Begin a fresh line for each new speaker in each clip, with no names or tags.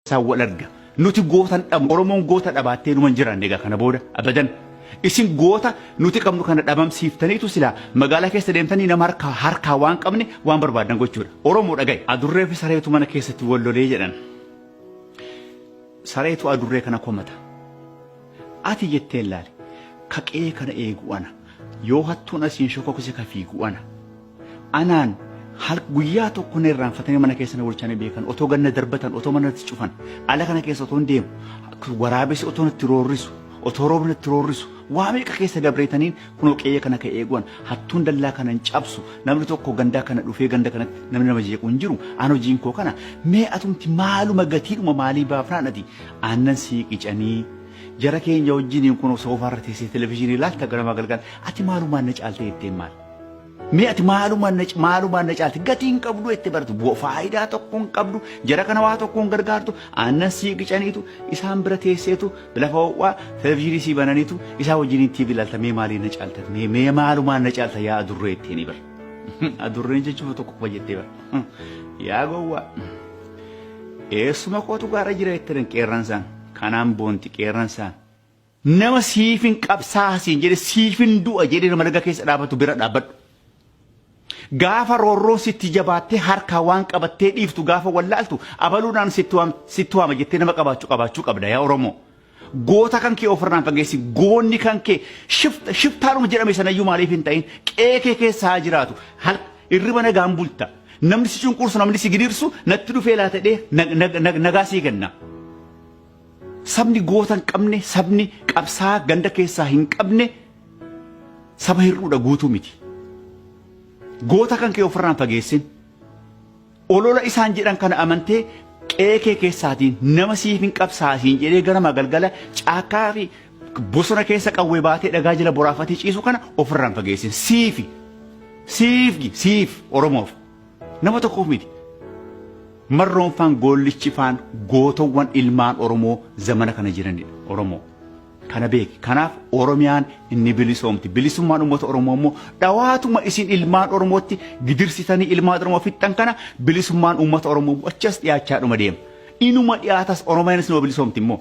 keessaan wal arga. Nuti goota hin dhabnu. Oromoon goota dhabaattee numa hin jiraanne egaa kana booda abadan. Isin goota nuti qabnu kana dhabamsiiftaniitu silaa magaalaa keessa deemtanii nama harkaa harkaa waan qabne waan barbaadan gochuudha. Oromoo dhaga'i. Adurree fi sareetu mana keessatti wal lolee jedhan. Sareetu adurree kana komata. Ati jettee laale. Kaqee kana eegu ana. Yoo hattuun asiin shokokise ka fiigu ana. Anaan hal guyyaa tokko na irraanfatanii mana keessa na bulchanii beekan otoo ganna darbatan otoo mana natti cufan ala kana keessa otoon deemu waraabessi otoo natti roorrisu otoo roobni natti roorrisu waa meeqa keessa dabreetaniin kunoo qe'ee kana ka eeguwan hattuun dallaa kana hin cabsu namni tokko gandaa kana dhufee ganda kanatti namni nama jeequ hin jiru aan hojiin koo kana mee atumti maaluma gatiidhuma maalii baafnaan ati aannan sii qicanii jara keenya wajjiniin kunoo soofaa irra teessee televizyiinii ilaalta ganamaa galgala ati maalumaan na caaltee ittiin maal Mee ati maalumaan na maalumaan na caalti gatii hin qabdu itti baratu bu'a faayidaa tokko hin qabdu jara kana waa tokko hin gargaartu aannan sii qicaniitu isaan bira teesseetu lafa ho'aa televizyiinii sii bananiitu isaa wajjin TV ilaalta mee maalii na caalta mee mee maalumaan na caalta yaa adurree ittiin ni bara adurreen jechuun tokko qofa jettee bara yaa gowwaa eessuma kootu gaara jira jettan qeerransaan kanaan boonti qeerransaan Nama siifin qabsaaha siin jedhe siifin du'a jedhee nama laga keessa dhaabatu bira dhaabbadhu. Gaafa roorroon sitti jabaattee harkaa waan qabattee dhiiftu gaafa wallaaltu abaluudhaan sitti waam- sitti waama jettee nama qabaachuu qabaachuu qabda yaa Oromoo. Goota kan kee ofirraan fageessi goonni kan kee shifta shiftaanuma jedhame sanayyuu maaliif hin ta'in qe'ee kee keessa haa jiraatu hal irriba nagaan bulta namni si cunqursu namni si gidirsu natti dhufee laata jedhee nag- nag- nag- nagaa sii kenna. Sabni goota hin qabne, sabni qabsaa'aa ganda keessaa hin qabne saba hir'uudha guutuu miti. Goota kan kee ofirraa hin fageessin. Olola isaan jedhan kana amantee qe'ee kee keessaatiin nama siif hin qabsaa'a siin jedhee ganama galgala caakkaa fi bosona keessa qawwee baatee dhagaa jala boraafatee ciisu kana ofirraa hin fageessin. Siifi siifi siif Oromoof. Nama tokkoof miti. Marroon faan goollichi faan gootowwan ilmaan Oromoo zamana kana jiranidha. Oromoo. Kana beeki. Kanaaf Oromiyaan inni bilisoomti. Bilisummaan uummata Oromoo immoo dhawaatuma isin ilmaan Oromootti gidirsitanii ilmaan Oromoo fixxan kana bilisummaan uummata Oromoo achas dhiyaachaa dhuma deema. Inuma dhiyaatas Oromiyaan isin bilisoomti immoo.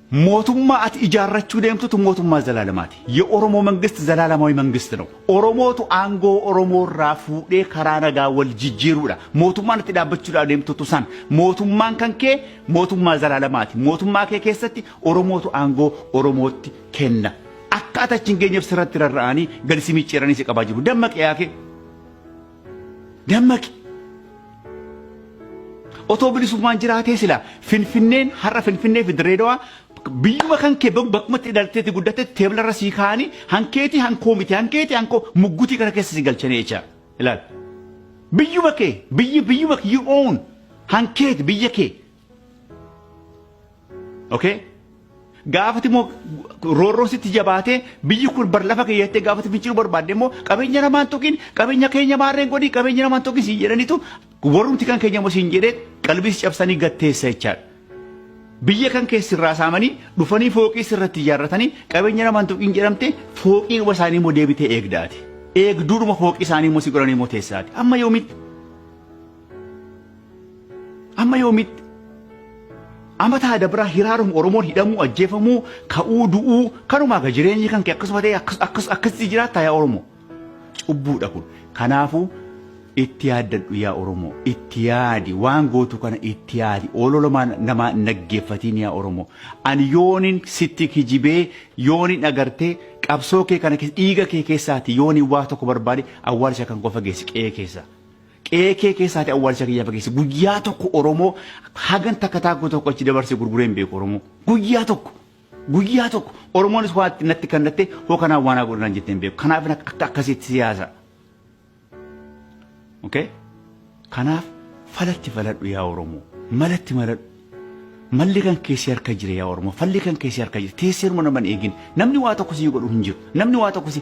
Mootummaa ati ijaarrachuu deemtutu mootummaa zalaalamaati. Ye Oromoo mangist zalaalamawi mangist nawu. Oromootu aangoo Oromoo irraa fuudhee karaa nagaa wal jijjiiruudha. Mootummaan ati dhaabbachuudhaaf deemtutu san. Mootummaan kan kee mootummaa zalaalamaati. Mootummaa kee keessatti Oromootu aangoo Oromootti kenna. Akka ati achi hin geenyeef sirratti rarra'anii gadi si micciiranii si qabaa jiru. Dammaqi yaakee! Dammaqi! Otoo bilisummaan jiraatee silaa Finfinneen har'a Finfinnee fi Dirreedawaa biyyuma kan kee bakkuma itti dhalatteetti guddatte teeblarra sii kaa'anii hankeetii hankoo miti hankeetii hankoo muggutii kana keessa si galchanii jecha ilaal. Biyyuma kee biyyi biyyuma kee you own hankeeti biyya kee Okay? Gaafati immoo roorroon sitti jabaatee biyyi kun bar lafa kee jettee gaafati finciluu barbaadde immoo qabeenya namaan tuqin qabeenya keenya maarreen godhi qabeenya namaan tuqin siin jedhanitu warrumti kan keenya immoo siin jedhee qalbii si cabsanii gatteessa jechaadha. Biyya kan kee sirraa saamanii dhufanii fooqii sirratti ijaarratanii qabeenya namaan tuqin jedhamte fooqiidhuma isaanii immoo deebitee eegdaati. Eegduudhuma fooqii isaanii immoo si godhanii immoo teessaati. Amma yoomitti? Amma yoomitti amata adabraa hiraaruun Oromoon hidhamuu ajjeefamuu ka'uu du'uu kanumaa ga jireenyi kan kee akkasuma ta'e akkasitti jiraata yaa Oromoo. Cubbuudha kun. Kanaafuu itti yaaddadhu yaa Oromoo itti yaadi waan gootu kana itti yaadi ololomaa namaa naggeeffatiin yaa Oromoo ani yoonin sitti kijibee yoonin agartee qabsoo kee kana dhiiga kee keessaati yoonin waa tokko barbaade awwaalcha kan qofa geessi qe'ee keessaa. Qe'ee kee keessaatii awwaalcha kiyya fageessi. Guyyaa tokko Oromoo hagan takka taakkoo tokko achi dabarsee gurguree hin beeku Oromoo. Guyyaa tokko. Guyyaa tokko Oromoonis waa itti natti kannattee hoo kanaa waan haa godhanaan jettee hin beeku. Kanaaf akka akkasitti siyaasa. Okay? Kanaaf falatti faladhu yaa Oromoo. Malatti maladhu. Malli kan keessi harka jira yaa Oromoo. Falli kan keessi harka jira. Teesseeruma nama hin eegin. Namni waa tokko si godhu hin jiru. Namni waa tokko si